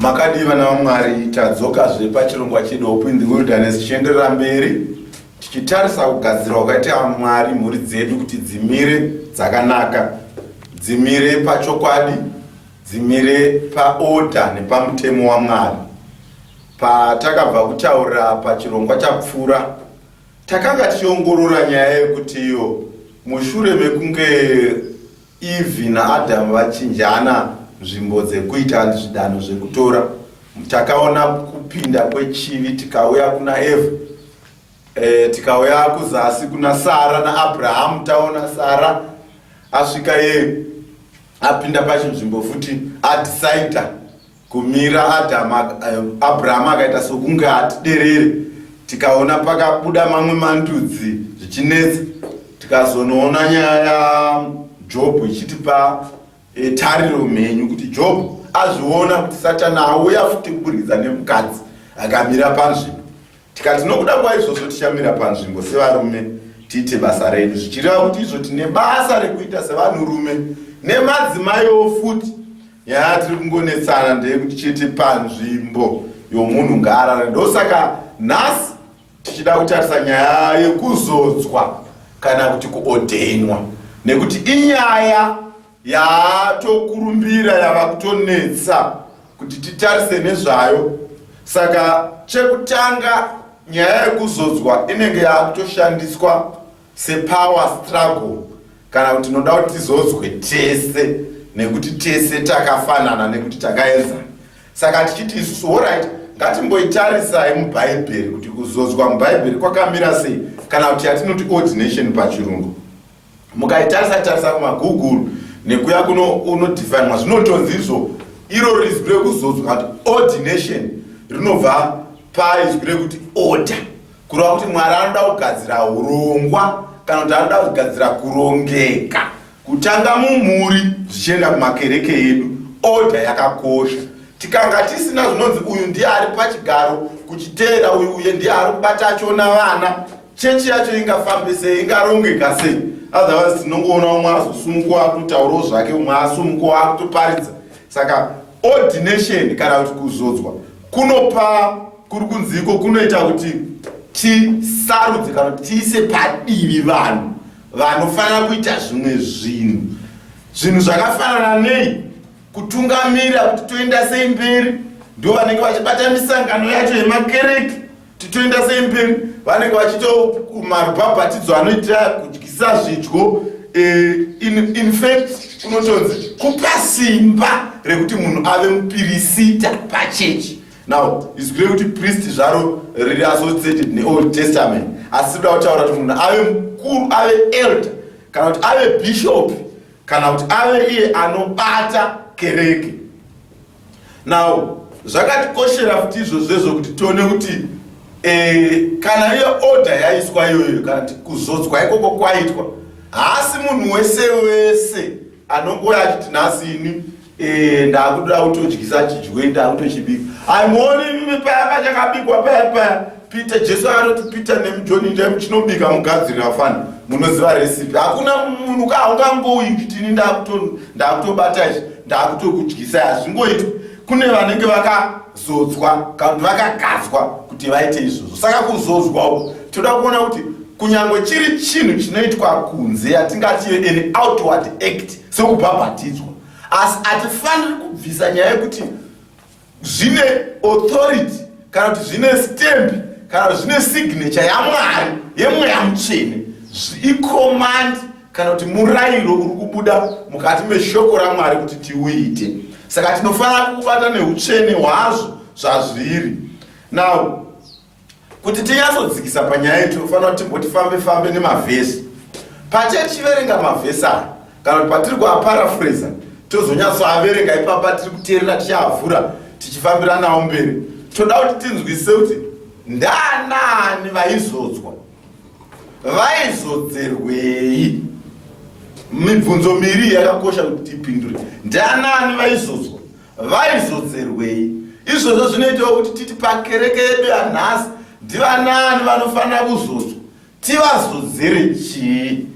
makadii vana vamwari tadzokazve pachirongwa chedu hope in the wilderness tichienderera mberi tichitarisa kugadzirwa kwakaita mwari mhuri dzedu kuti dzimire dzakanaka dzimire pachokwadi dzimire paoda nepamutemo wamwari patakabva kutaura pachirongwa chapfuura Takanga tichiongorora nyaya yekuti iyo mushure mekunge Eve naAdam vachinjana nzvimbo dzekuita zvidanho zvekutora, takaona kupinda kwechivi tikauya kuna Eva e, tikauya kuzasi kuna Sara naAbrahamu, taona Sara asvika yeye apinda pachinzvimbo futi adecider Kumira Adama, eh, Abrahama akaita sokunge hatiderere. Tikaona pakabuda mamwe mandudzi zvichinetsa, tikazonoona nyaya yaJobhu ichitipa eh, tariro mhenyu kuti Jobhu azviona kuti Satani auya futi kuburikidza nemukadzi akamira panzvimbo. Tikati nokuda kwaizvozvo tichamira panzvimbo sevarume tiite basa redu, zvichireva kuti izvo tine basa rekuita sevanhurume nemadzimaiwo futi Yaa tiri kungonetsana ndeyekuti chete panzvimbo yomunhu ngaarare ndosaka nhasi tichida kutarisa nyaya yekuzodzwa kana kuti kuodhenwa nekuti inyaya yatokurumbira yava kutonetsa kuti titarise nezvayo saka chekutanga nyaya yekuzodzwa inenge yaakutoshandiswa sepower struggle kana kuti tinoda kuti tizodzwe tese nekuti tese takafanana nekuti takaenzana saka tichiti isusu horit ngatimboitarisai mubhaibheri kuti kuzodzwa mubhaibheri kwakamira sei kana kuti yatinoti ordination pachirungu mukaitarisa tarisa kumagoogle nekuya kuno unodifinwa zvinotonzi izvo iro rizwi rekuzodzwa kuti ordination rinobva paizwi rekuti order Kureva kuti Mwari anoda kugadzira hurongwa kana kuti anoda kugadzira kurongeka kutanga mumhuri zvichienda kumakereke edu. Oda yakakosha. Tikanga tisina zvinonzi uyu ndiye ari pachigaro kuchiteera uyu uye ndiye ari kubata achiona vana, chechi yacho ingafambe sei, ingarongeka sei? Otherwise tinongoona umwe azosumuka akutaurawo zvake, umwe asumuka akutoparidza. Saka ordination kana kuti kuzodzwa kunopa kuri kunziko kunoita kuti tisarudze kana kuti tiise padivi vanhu vanofanira kuita zvimwe zvinhu zvinhu zvakafanana nei kutungamira kuti toenda sei mberi ndo vanenge vachibata misangano yacho yemakereke titoenda sei mberi vanenge vachito marubhabhatidzo anoita kudyisa zvidyo eh, infact unotonzi kupa simba rekuti munhu ave mupirisita pachechi now izwi rekuti priest zvaro riri associated neold testament asi rikuda kutaura kuti munhu ave mukuru ave elder kana kuti ave bishop kana kuti ave iye anobata kereke now zvakatikoshera futi izvozvo izvo kuti tione kuti eh, kana iyo order yaiswa iyoyo kana kuti kuzodzwa ikoko kwaitwa haasi munhu wese wese anongouya achiti nhasi ini eh, ndakuda kutodyisa chidyiwe ndakutochibika aimoni paya pachakabikwa paya paya peter jesu anoti peter nemujoni ndai muchinobika mugadzirira fana munoziva recipe hakuna munhu ka haungangouyi kuti ini ndakutobata ichi ndakutokudyisai hazvingoitwi kune vanenge vaka zodzwa kana kuti vakagadzwa kuti vaite izvozvo saka kuzodzwa uku tinoda kuona kuti kunyange chiri chinhu chinoitwa kunze yatingati an outward act sekubhabhatidzwa asi hatifaniri kubvisa nyaya yekuti zvine authority kana kuti zvine stamp kana kuti zvine signature yamwari yemweya mutsvene icommand kana kuti murayiro uri kubuda mukati meshoko ramwari kuti tiuite saka tinofanira kukubata neutsvene hwazvo zvazviri now kuti tinyatsodzikisa panyaya iyi tinofanira kuti timboti fambe fambe nemavhesi patichiverenga mavhesi aya kana kuti patiri kuaparafreza tozonyatsoaverenga ipapa tiri kuteerera tichiavhura tichifambiranawo mberi toda kuti tinzwisise kuti ndaanaani vaizodzwa vaizodzerwei mibvunzo miri yakakosha kuti tipindure ndianani vaizodzwa vaizodzerwei izvozvo zvinoitawo kuti titi pakereke yedu yanhasi ndivanani vanofanira kuzodzwa tivazodzere chii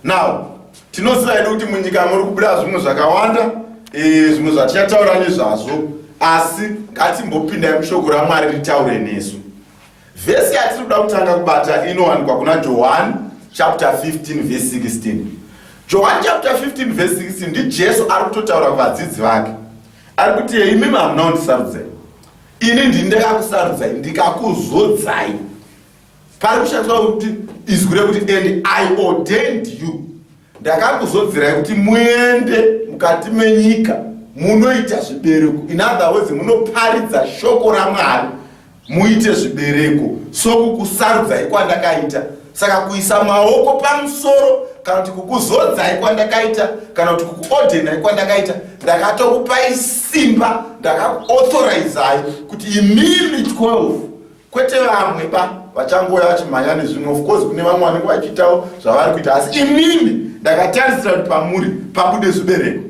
now tinoziva yedu kuti munyika muri kubuda zvimwe zvakawanda eh, zvimwe zvatichataura nezvazvo asi ngatimbopindai mushoko ramwari ritaure nesu Vhesi yatiri kuda kutanga kubata inowanikwa kuna Johani chapter 15 vhesi 16. Johani chapter 15 vhesi 16 ndiJesu ari kutotaura kuvadzidzi vake, ari kuti imi mamunondisarudzai, ini ndini ndakakusarudzai ndikakuzodzai. Pari kushandiswa kuti izwi rekuti and I ordained you Ndakakuzodzirai kuti muende mukati menyika munoita zvibereko. In other words, munoparidza shoko raMwari muite zvibereko sokukusarudzai kwandakaita. Saka kuisa maoko pamusoro kana kuti kukuzodzai kwandakaita kana kuti kukuodhenai kwandakaita ndakatokupai simba ndakakuauthorizai kuti imimi 12 kwete vamwe ba vachangouya vachimhanya nezvimwe of course kune vamwe vanenge vachiitawo zvavari kuita asi inini ndakatarisira kuti pamuri pabude zvibereko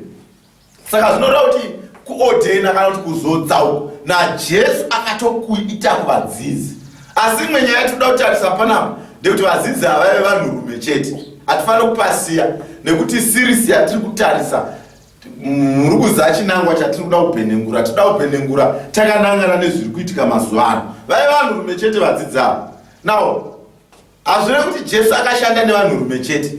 saka zvinoreva kuti kuodhena kana kuti kuzodza uko najesu akatokuita kuvadzidzi asi imwe nyaya yatinoda kutarisa panapa ndekuti vadzidzi havaive vanhurume chete hatifanira kupasiya nekuti sirisi yatiri kutarisa Murukudza chinangwa chatiri kuda kupenengura tinoda kupenengura takanangana nezviri kuitika mazuva ano vave vanhurume chete vadzidzavo now hazvire kuti jesu akashanda nevanhurume chete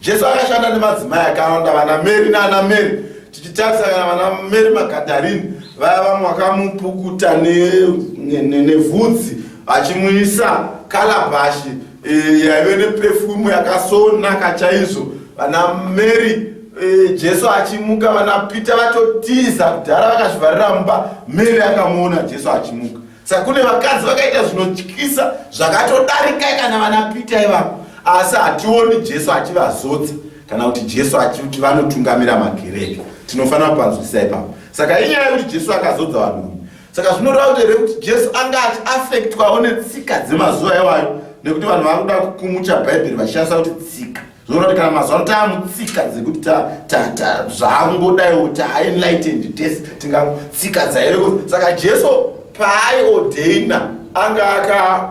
jesu akashanda nemadzimai akawanda vana meri naana meri tichitarisa kana vana meri magadarini vaya vamwe vakamupukuta nevhudzi vachimuisa kalabashi e, yaive nepefumu yakasonaka chaizvo vana mary e, jesu achimuka vana peter vatotiza kudhara vakazvivharira mumba mary akamuona jesu achimuka saka kune vakadzi vakaita zvinotyisa zvakatodarika kana vana peter ivavo asi hationi jesu achivazodza kana kuti jesu achikuti vanotungamira makereke tinofanira kupanzwisisa ipapo saka inyaya yekuti jesu akazodza vanhu saka zvinoreva kuti here kuti jesu anga achiafektwawo netsika dzemazuva iwayo nekuti vanhu vava kuda kukumucha bhaibheri vachishandisa kuti tsika zvinoreva kuti kana mazuva ano taamutsika dzekuti zvaangodaiwo taaenlightened tese tingatsika dzaireko saka jesu paaiodheina anga aka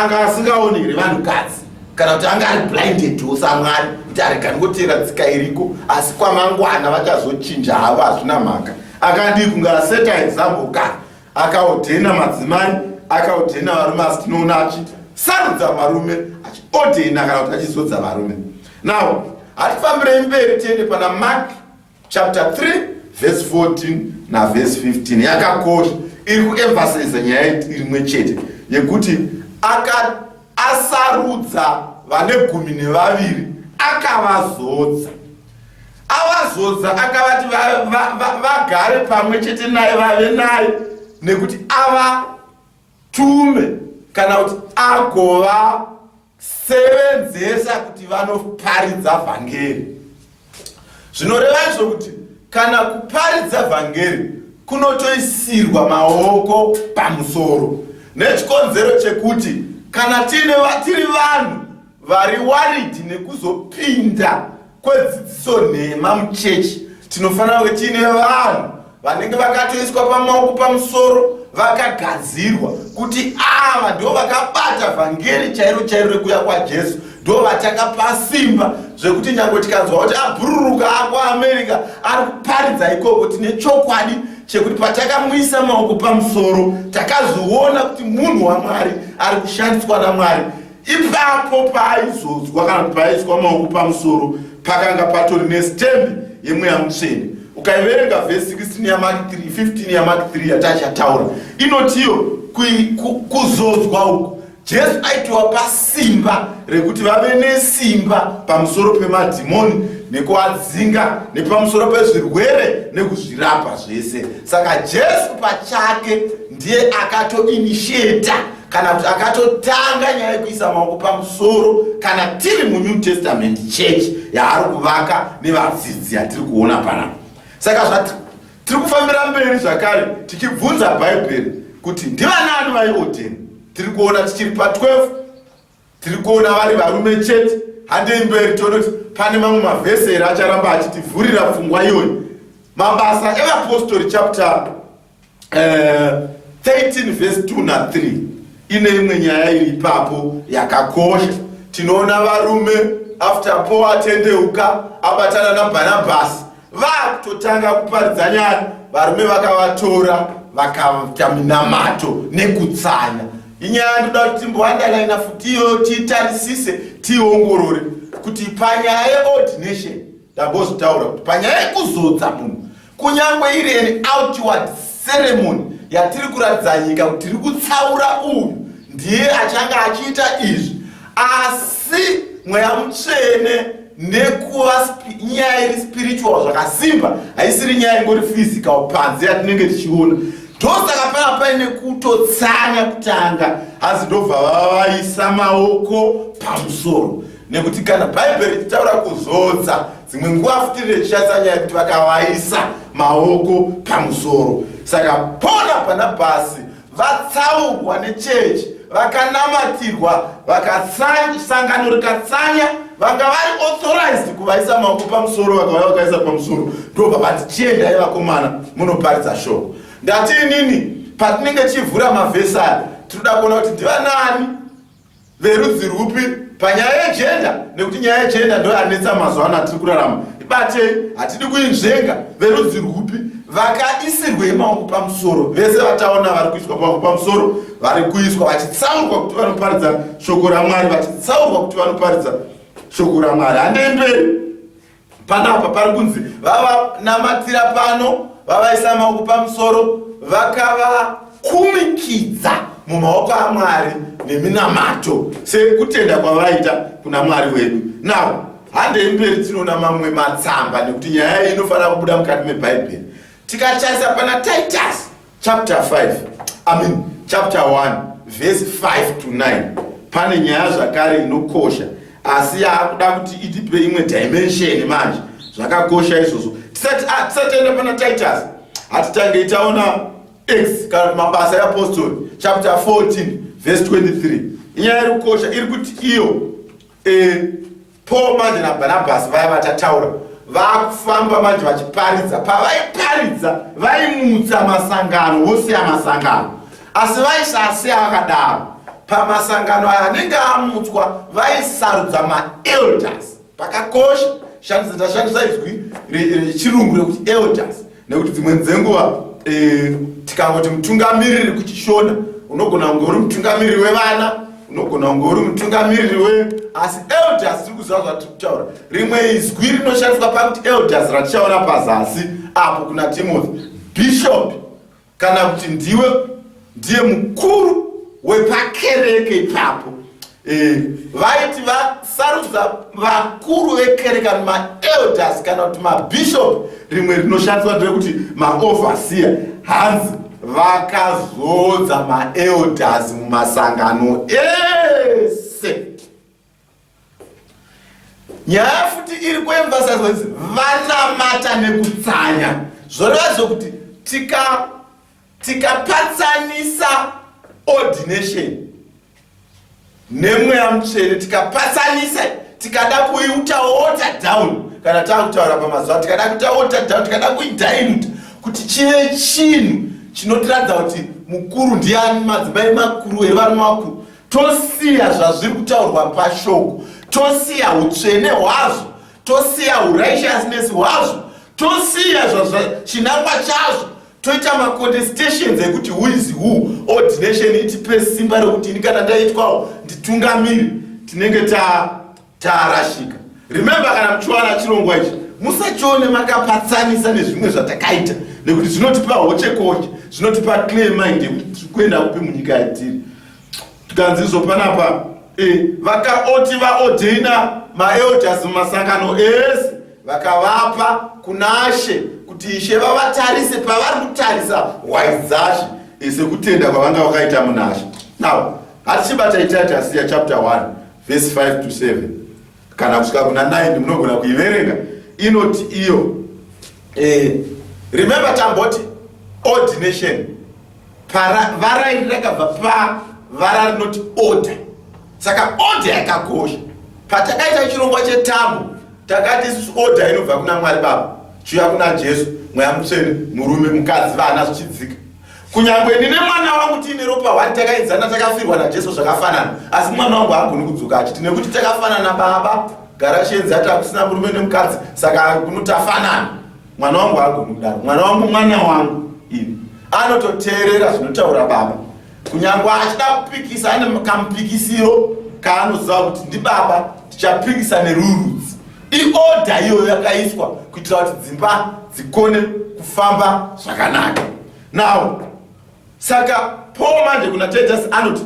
anga asingaoni here vanhukadzi kana kuti anga ari blinded wo samwari kuti aregani kotera tsika iriko asi kwamangwana vachazochinja havo hazvina mhaka akadii kunge aseta example ka akaodhena madzimai akaodhena varume asi tinoona achi sarudza varume achiodhena kana kuti achizodza varume now hatifambirei mberi tiende pana mark chapter 3 verse 14 naverse 15 yakakosha iri kuemphasiza nyaya irimwe chete yekuti asarudza vane gumi nevaviri akavazodza avazodza akavati vagare pamwe chete naye vave naye nekuti avatume kana kuti agova sevenzesa kuti vanoparidza vhangeri zvinoreva izvo kuti kana kuparidza vhangeri kunotoisirwa maoko pamusoro nechikonzero chekuti kana tiri vanhu vari waridi nekuzopinda kwedzidziso nhema muchechi tinofanira kunge tiine vanhu vanenge vakatoiswa pamaoko pamusoro vakagadzirwa kuti ava ndo vakabata vhangeri chairo chairo rekuuya kwajesu ndo vatakapa simba zvekuti nyange tikanzwa kuti abhururuka ako america ari kuparidza ikoko tine chokwadi chekuti patakamuisa maoko pamusoro takazviona kuti munhu wamwari ari kushandiswa namwari Ipapo paaizodzwa kana kuti paaiswa maoko pamusoro pakanga patori nesitembi yemweya mutsvene. Ukaiverenga vhesi 16 yaMaki 3, 15 yaMaki 3 yatachataura inotiyo kuzodzwa uku Jesu aitowapa simba rekuti vave nesimba pamusoro pemadhimoni nekuadzinga nepamusoro pezvirwere nekuzvirapa zvese. Saka Jesu pachake ndiye akatoinitiata kana kuti akatotanga nyaya yekuisa maoko pamusoro kana tiri munew testament church yaari kuvaka nevadzidzi yatiri kuona pana saka zvati tiri kufambira mberi zvakare tichibvunza bhaibheri kuti ndivanani vaiodheni tiri kuona tichiri pa 12 Tiri kuona vari varume chete. Handei mberi tione kuti pane mamwe mavhesi here acharamba achitivhurira pfungwa iyoyi. Mabasa evapostori chapter uh, eh, 13 vhesi 2 na 3 ine imwe nyaya iri ipapo yakakosha. Tinoona varume after Paul atendeuka abatana naBhanabhasi vakutotanga kuparidza nyaya varume vakavatora vakaita minamato nekutsanya inyaya ndoda kuti timboandalaina futiyo titarisise tiongorore kuti panyaya yeordination ndambozotaura kuti panyaya yekuzodza munhu kunyange iri an outward ceremony yatiri kuratidza nyika kuti tiri kutsaura uyu ndiye achange achiita izvi asi mweya mutsvene nekuva nyaya iri spiritual zvakasimba haisiri nyaya ingori physical panze yatinenge tichiona ndosaka pava paine kutotsanya kutanga hanzi ndobva vavaisa maoko pamusoro nekuti kana bhaibheri richitaura kuzodza dzimwe nguva futi richishatsa nyaya kuti vakavaisa maoko pamusoro saka pona pana bhasi vatsaurwa nechechi vakanamatirwa vakatsanya sangano rikatsanya vanga vari authorized kuvaisa maoko pamusoro vakauya vakaisa pamusoro ndobva vati chiendai vakomana munoparidza shoko ndati inini patinenge tichivhura mavhesi aya tinoda kuona kuti ndivanaani verudzi rwupi panyaya yejenda nekuti nyaya yejenda ndo yanetsa mazuva ano atiri kurarama ibatei hatidi kuinzvenga verudzi rwupi vakaisirwei maoko pamusoro vese vataona vari kuiswa pamwe pamusoro vari kuiswa vachitsaurwa kuti vanoparidza shoko ramwari vachitsaurwa kuti vanoparidza shoko ramwari handei mberi Panapa pari kunzi vavanamatira pano vavaisa maoko pamusoro vakavakumikidza mumaoko amwari neminamato sekutenda kwavaita kuna mwari wedu navo handei mberi tinoona mamwe matsamba nekuti nyaya iyi inofanira kubuda mukati mebhaibheri tikataisa pana titus chapter 5 i mean chapter 1 verse 5 to 9 pane nyaya zvakare inokosha asi yaakuda kuti itipe imwe dimension manje zvakakosha izvozvo tisati ah, tisatienda pana titus hatitangei taona x kana mabasa eapostoli chapter 14 verse 23 inyaya iri kukosha iri kuti iyo e, Paul manje naBhanabhasi vaya vachataura vakufamba manje vachiparidza pavaiparidza vaimutsa masangano vosiya masangano asi vaisasiya vakadaro pamasangano aya anenge amutswa vaisarudza maelders pakakosha shandisa tashandisa izwi rechirungu rekuti elders nekuti dzimweni dzenguva e, tikangoti mutungamiriri kuchishona unogona kunge uri mutungamiriri wevana unogona kunge uri mutungamiriri we asi elders tiri kuziva zvatiri kutaura rimwe izwi rinoshandiswa pakuti elders ratichaona pazasi apo kuna timothy bishop kana kuti ndiwe ndiye mukuru wepakereke ipapo eh, vaiti vasarudza vakuru vekereke kana maelders kana kuti mabishop rimwe rinoshandiswa nderekuti maoverseer hanzi vakazodza maelders mumasangano ese nyaya futi iri kuemphasize kuti vanamata nekutsanya zvoreva zvokuti tika tikapatsanisa ordination nemweya mutsvene tikapatsanisa tikada kuiuta water down kana tava kutaura pamazuva tikada kuita water down tikada kuidiluta kuti chive chinhu chinotiradza kuti mukuru ndiani madzimai makuru here varume vakuru tosiya zvazviri kutaurwa pashoko tosiya utsvene hwazvo tosiya urighteousness hwazvo tosiya zvazvachinangwa chazvo toita macontestations ekuti who is who ordination itipe simba rekuti ini kana ndaitwawo nditungamiri tinenge ta Tarashika. Remember kana muchiwana chirongwa ichi musachione makapatsanisa nezvimwe zvatakaita nekuti zvinotipa hochekoche zvinotipa clear mind yekuti tiri kuenda kupi munyika yatiri tikanzi izvo panapa e, vakaoti vaodheina maelders mumasangano ese vakavapa kunashe kuti ishe vavatarise pavari kutarisa hwai dzashe e, sekutenda kwavanga vakaita munashe now hatichibata itaita siya chapter 1 vhesi 5 to 7 kana kusvika kuna 9 munogona kuiverenga inoti iyo eh, remember tamboti ordination para vara iri rakabva pa vara rinoti order saka order yakakosha patakaita chirongwa chetambo takati order inobva kuna mwari baba chiuya kuna jesu mweya mutsvene murume mukadzi vana zvichidzika Kunyangwe ndine mwana wangu tiine ropa hwani takaenzana takafirwa naJesu zvakafanana asi mwana wangu haagoni kudzoka achiti nekuti takafanana baba gara chienzi ati hakusina murume nemukadzi saka kuno tafanana mwana wangu haagoni kudaro mwana wangu mwana wangu ini anototeerera zvinotaura baba kunyangwe achida kupikisa ane kamupikisiro kaanoziva kuti ndibaba tichapikisa nerurudzi iodha iyoyo yakaiswa kuitira kuti dzimba dzikone kufamba zvakanaka now saka paul mande kuna titus anoti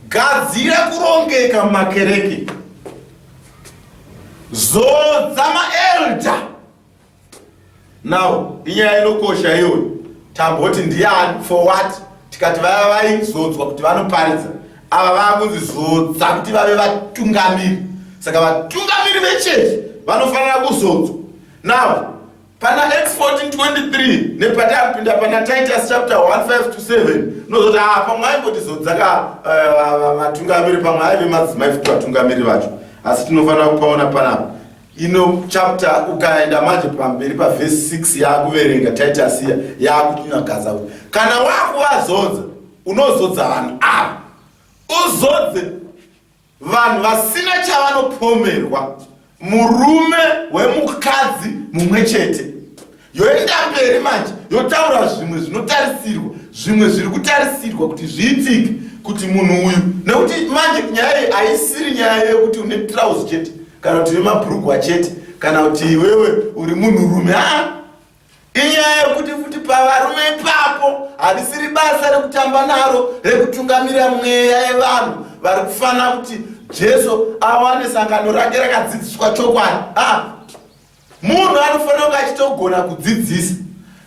gadzira kurongeka mumakereke zodza maelda now inyaya inokosha iyoyo tamboti ndiani for what tikati vaya vaizodzwa kuti vanoparidza ava vakunzi zodza kuti vave vatungamiri saka vatungamiri vechechi vanofanira kuzodzwa now pana x 1423 nepatakupinda pana titus chapter 1527 nozoti haa ah, pamwe aimbotizodzaka eh, vatungamiri pamwe aive madzimai futi vatungamiri vacho asi tinofanira kupaona panapa ino chapter ukaenda manje pamberi pavhesi 6 yaakuverenga taitasiya yaakutinyagadza kuti kana wakuvazodza unozodza vanhu ava uzodze vanhu vasina chavanopomerwa murume wemukadzi mumwe chete yoenda mberi manje yotaura zvimwe zvinotarisirwa zvimwe zviri kutarisirwa kuti zviitike kuti munhu uyu nekuti manje nyaya iyi haisiri nyaya yekuti une trouse chete kana kuti vemabhurugwa chete kana kuti iwewe uri munhurume haa inyaya yekuti futi pavarume ipapo harisiri basa rekutamba naro rekutungamira mweya yevanhu vari kufanira kuti jesu awane sangano rake rakadzidziswa chokwadi haa Munhu anofanira kunge achitogona kudzidzisa.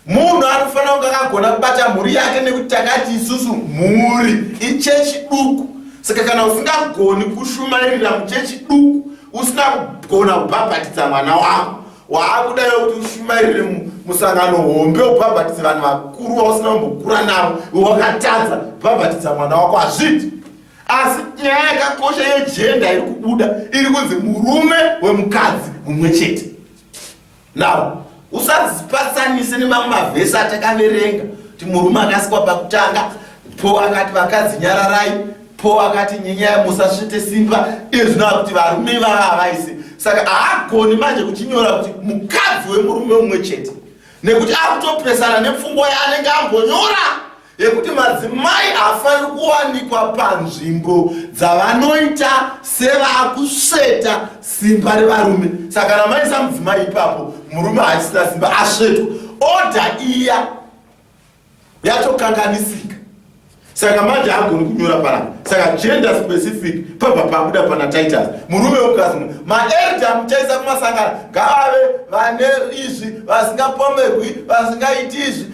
Munhu anofanira kunge akagona kubata mhuri yake nekuti takati isusu mhuri ichechi duku. Saka kana usingagoni kushumairira muchechi duku, usina kugona kubhabhatidza mwana wako, waakudayo kuti ushumairire musangano hombe ubhabhatidze vanhu vakuru vausina kumbokura navo, wakatadza kubhabhatidza mwana wako hazviti. asi nyaya yakakosha yejenda iri kubuda iri kunzi murume wemukadzi mumwe chete now usazipatsanise nemamwe mavhesi atakaverenga kuti murume akasikwa pakutanga po akati vakadzi nyararai po akati nyenyaya musasvite simba iye zvinova kuti varume vava havaise saka haagoni manje kuchinyora kuti mukadzi wemurume umwe chete nekuti akutopresana nepfungwa yaanenge ambonyora yekuti madzimai haafaniri kuwanikwa panzvimbo dzavanoita sevakusveta simba revarume saka kana maisa mudzimai ipapo murume haachisina simba asvetwa odha iya yatokanganisika saka manje haagoni kunyora panapa saka gender specific pabva pabuda pana titus murume wemukadzi mu maerda muchaisa kumasangano ngaave vane izvi vasingapomerwi vasingaiti izvi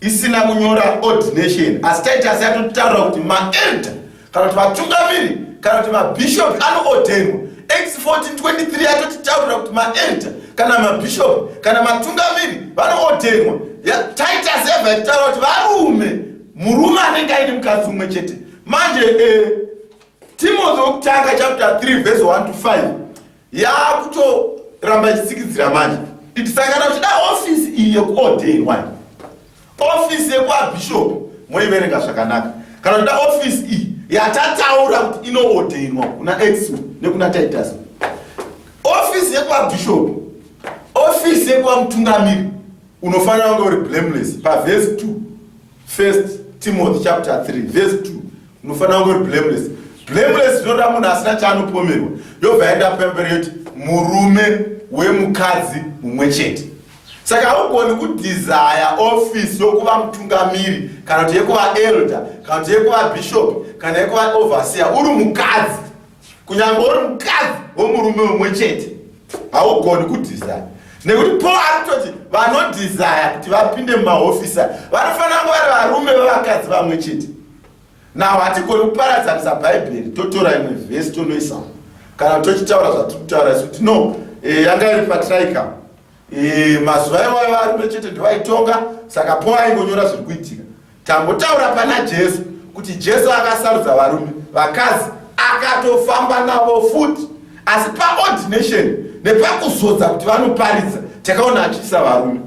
isina kunyora ordination asi taiti asi yatotaura kuti maelder kana kuti vatungamiri kana kuti mabhishopi anoodhenwa x 1423 yatotitaurira kuti maelder kana mabhishopi kana matungamiri vanoodhenwa taiti asi yabva yatitaura kuti varume murume anenge aine mukadzi umwe chete manje eh, timothy wekutanga chapter 3 vhesi 1 to 5 yaakutoramba ichitsikidzira manje iti sangana uchida ofisi iyi yekuodei wani ofisi yekuabhishopi moiverenga zvakanaka kana uchida ofisi iyi yatataura kuti inoodenwa kuna ex nekuna titus ofisi yekuabhishopi ofisi yekuamutungamiri unofanira kunge uri blameless pavhesi 2 First Timothy chapter 3 verse 2 unofanira kunge uri blameless blameless zvinoda munhu asina chaanopomerwa yobva yaenda pemberi yoti murume wemukadzi mumwe chete saka haugoni kudhizaya ofisi yokuva mutungamiri kana kuti yekuva elder kana kuti yekuva bishop kana yekuva overseer uri mukadzi kunyangwe uri mukadzi womurume umwe chete haugoni kudhizaya nekuti paul ari kutoti vanodhizaya kuti vapinde mumahofisa vanofanira kunge vari varume vevakadzi vamwe chete naho hatigoni kuparadzanisa bhaibheri totora imwe vhesi tonoisamo kana tochitaura zvatiri kutaura isu tino eh, yanga iri patraikam Eh, mazuva iwayo varume chete ndivaitonga saka po aingonyora zviri kuitika tambotaura pana jesu kuti jesu akasarudza varume vakadzi akatofamba navo futi asi paordination nepakuzodza kuti vanoparidza takaona achiisa varume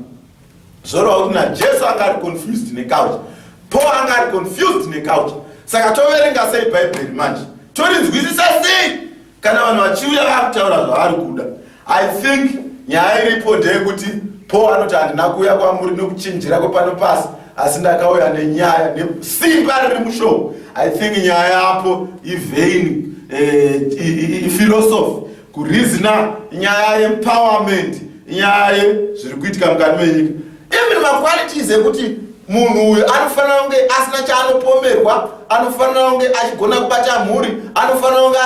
zvoreva kuti najesu anga ari confused necouch po anga ari confused necouch saka toverenga sei bhaibheri manje torinzwisisa sei kana vanhu vachiuya vakutaura zvavari kuda i think nyaya iripo ndeyekuti po anoti handina kuuya kwamuri nokuchinjira kwepano pasi asi ndakauya nenyaya nesimba riri mushow i think nyaya yapo ivein eh, ifilosofi kurizina nyaya yeempowerment nyaya yezviri kuitika mukati menyika even maqualities ekuti munhu uyu anofanira kunge asina chaanopomerwa anofanira kunge achigona kubata mhuri anofanira kunge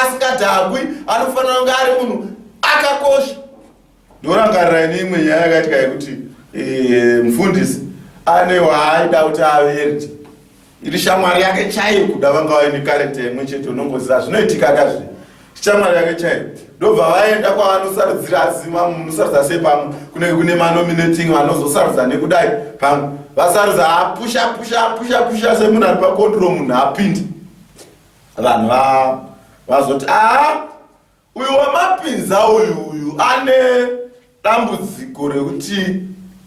asingadhakwi anofanira kunge ari munhu akakosha ndorangarira ine imwe nyaya yakaitika yekuti eh, mufundisi ane waaida kuti averti iri shamwari yake chaiyo kuda vanga vaine karekta imwe chete unongoziva zvinoitika kazve shamwari yake chaiyo ndobva vaenda kwavanosarudzira asi munosarudza sei pamwe kunenge kune manominating vanozosarudza nekudai pamwe vasarudza apusha pusha pusha pusha semunhu ari pakondro munhu apindi vanhu vazoti aa Uyu wamapinza uyu uyu ane dambudziko rekuti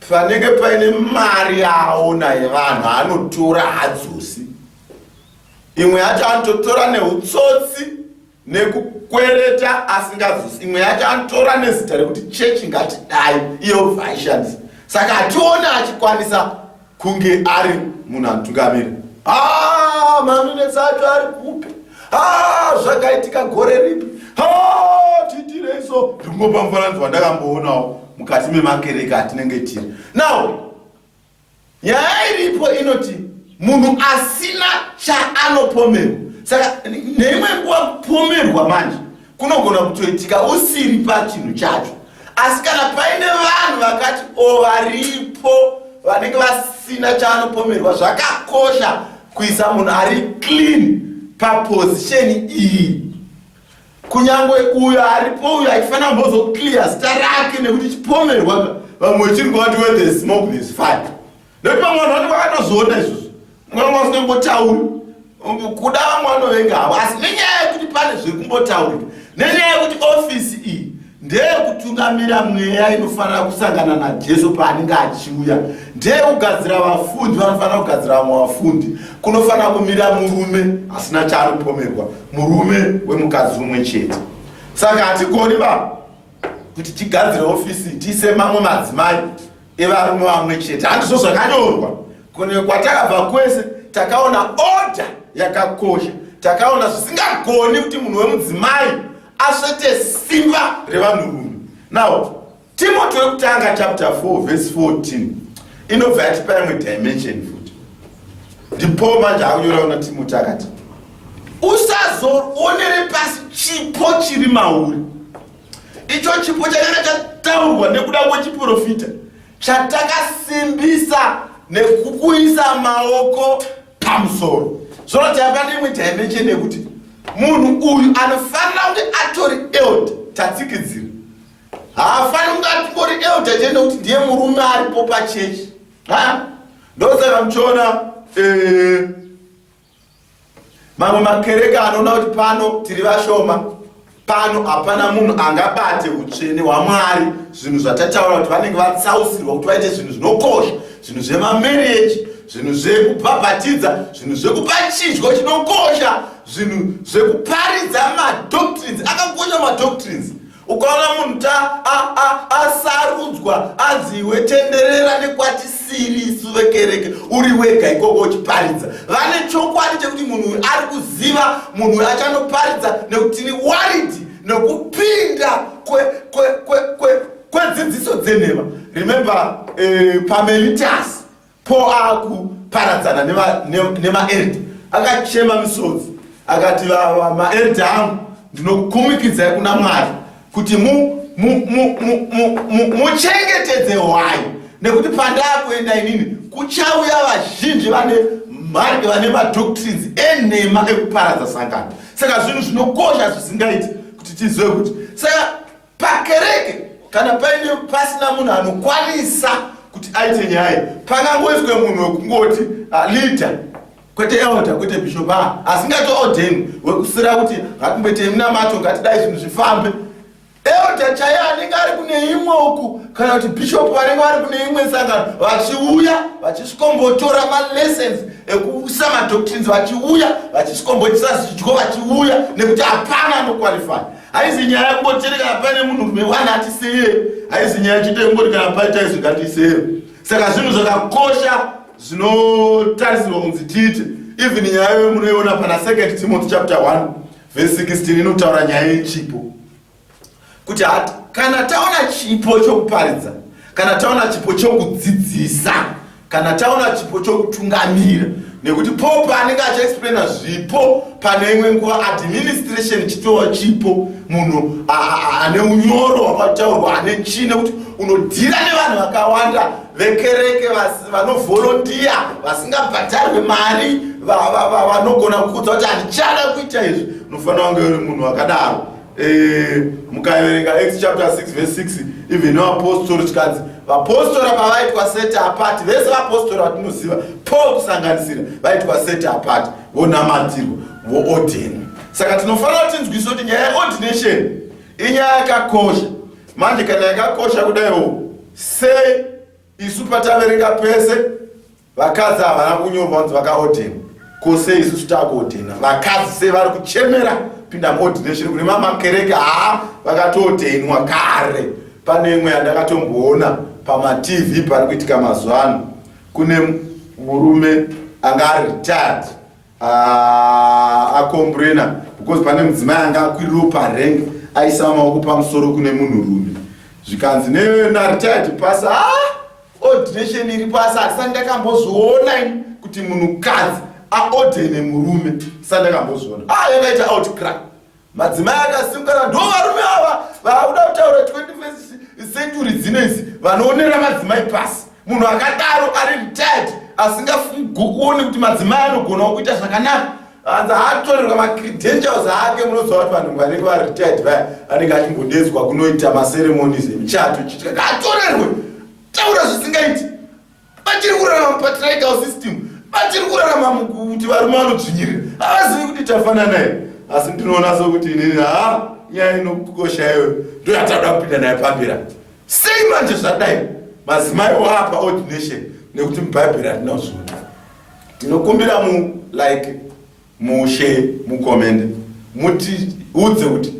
panenge paine mari yaaona yevanhu anotora hadzosi imwe yacho anototora neutsotsi nekukwereta asingazosi imwe yacho anotora nezita rekuti chechi ngatidai iyo vaishandisa saka hatione achikwanisa kunge ari munhu anotungamira ah, manonetsa acho ari kupi ah, zvakaitika gore ripi ah, titirei so rimwe pamufananidzo wandakamboonawo mukati memakereke atinenge tiri now nyaya iripo inoti munhu asina chaanopomerwa saka neimwe nguva kupomerwa manje kunogona kutoitika usiri pachinhu chacho asi kana paine vanhu vakati o varipo vanenge vasina chaanopomerwa zvakakosha kuisa munhu ari clean papozisheni iyi kunyange uyo aripo uyo achifanira mbozoclear zita rake nekuti chipomerwa vamwe vachiri kuvati where the smoke is fire nekuti vamwe vanhu vanenge vakatozoona izvozvo vamwe vasingambotauri kuda vamwe vanovenga havo asi nenyaya yekuti pane zvekumbotaurika nenyaya yekuti ofisi iyi ndeyekutungamira mweya inofanira kusangana najesu paanenge achiuya ndeyekugadzira vafundi vanofanira kugadzira vamwe vafundi kunofanira kumira murume asina chaanopomerwa murume wemukadzi umwe chete saka hatigoni va kuti tigadzire ofisi tiise mamwe madzimai evarume vamwe chete handizvo zvakanyorwa kune kwatakabva kwese takaona oda yakakosha takaona zvisingagoni kuti munhu wemudzimai asvete simba revanhurume now timoti wekutanga chapter 4 vese 14 inobva yatipa imwe dimension futi ndipoo manje akunyora una timoti akati usazoonere pasi chipo chiri mauri icho chipo chakanga chataurwa nekuda kwechiprofita chatakasimbisa nekukuisa maoko pamusoro zvino taiva neimwe dimension yekuti munhu uyu anofanira kunge atori eld tatsikidzira haafaniri kunge atori eld chete nekuti ndiye murume aripo pachechi ndosaka muchiona eh, Mamwe makereke anoona kuti pano tiri vashoma, pano hapana munhu angabate utsvene hwaMwari, zvinhu zvatataura kuti vanenge vatsausirwa kuti vaite zvinhu zvinokosha, zvinhu zvemamereji, zvinhu zvekubhabhatidza, zvinhu zvekupa chidyo chinokosha, zvinhu zvekuparidza madoctrines akakosha madoctrines ukaona munhu ta asarudzwa a, a, anzi iwe tenderera nekwatisiri isu vekereke uri wega ikoko uchiparidza vane chokwadi chekuti munhu uyu ari kuziva munhu uyu achanoparidza nekuti tiri waridi nekupinda kwedzidziso dzenhema remember eh, pamelitas Paul akuparadzana nemaerita akachema misodzi akati maerita angu ndinokumikidzai kuna mwari kuti muchengetedze hwai nekuti pandakuenda inini kuchauya vazhinji vane mari vane madoctrines enhema ekuparadza sangano saka zvinhu zvinokosha zvisingaiti kuti tizive kuti saka Pakereke kana paine pasina munhu anokwanisa kuti aite nyaya pangangoiswe munhu wekungoti ah, leader kwete elder kwete bishop ah, asingatoordeni wekusira kuti ngatimboite minamato ngatidai zvinhu zvifambe elder chaiye anenge ari kune imwe uku kana kuti bishop vanenge vari kune imwe sangano vachiuya vachisvikombotora malessons ekuisa madoctrines vachiuya vachisvikomboitisa zvidyo vachiuya nekuti hapana anoqualify haizi nyaya yekungotiri kana paine munhu rume wani atisiye haizi nyaya chete yekungoti kana paita izvi ngatiiseye saka zvinhu zvakakosha zvinotarisirwa kunzi tiite even nyaya yoyo munoiona pana second timothy chapter 1 vese 16 inotaura nyaya yechipo kuti hati kana taona chipo chokuparidza kana taona chipo chokudzidzisa kana taona chipo chokutungamira nekuti pope anenge achiexplaina zvipo pane imwe nguva administration chitowa chipo munhu ane unyoro hwakataurwa ane chii nekuti unodhira nevanhu vakawanda vekereke vanovholondiya vasingabhadharwe mari vanogona kukudza kuti handichada kuita izvi unofanira kunge uri munhu wakadaro Eh, mukaverenga Acts chapter 6 verse 6 even no apostle chikanzi vapostora pavaitwa set apart vese vapostora vatinoziva Paul kusanganisira vaitwa set apart vonamatirwa voordinwa saka tinofanira kuti tinzwise kuti nyaya yeordination inyaya yakakosha manje kana yakakosha kudaiwo sei isu pataverenga pese Vakadzi havana kunyorwa kunzi vakaodhena ko sei isusu takuodhena vakadzi sei vari kuchemera pinda muodhination kune mamakereke haa vakatoodhenwa kare pane imwe yandakatomboona pamatv pari kuitika mazuva ano kune murume anga aretired Ah, akomburena because pane mudzimai anga akwiriwo parenk aisa maoko pamusoro kune munhu rume zvikanzi nenaritired pasi a ah, ordination iri pasi asati ndakambozviona kuti munhukadzi aodene murume sati ndakambozviona a ah, yakaita outcry Madzimai akasimukana ndo varume ava vaakuda kutaura 21st century dzino idzi vanoonera madzimai pasi. Munhu akadaro ari retired asingafungokuoni kuti madzimai anogonawo kuita zvakanaka. Hanzi haatorerwa macredentials ake munoziva kuti vanhu vanenge vari retired vaya anenge achingodedzwa kunoita maceremonies emuchato chiti kaatorerwe taura zvisingaiti Batiri kurarama patriarchal system. Batiri kurarama mukuti varume vanodzvinyirira. Havazivi kuti tafanana here. Asi ndinoona sokuti inini ha nyaya inokukosha iwe ndoyatauda kupinda naye pambira. Sei manje zvadai? Mazimai wapa ordination nekuti mubhaibheri hatina kuzviona. Tinokumbira mu like Mushe mucomment mutiudze kuti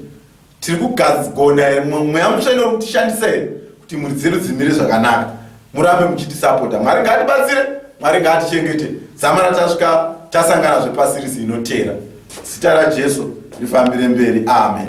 tiri kugona here mweya mutsva inori kutishandisa here kuti mhuri dzedu dzimire zvakanaka murambe muchitisapota mwari ngaatibatsire mwari ngaatichengete zama ratasvika tasangana zvepasirisi inotera zita rajesu rifambire mberi amen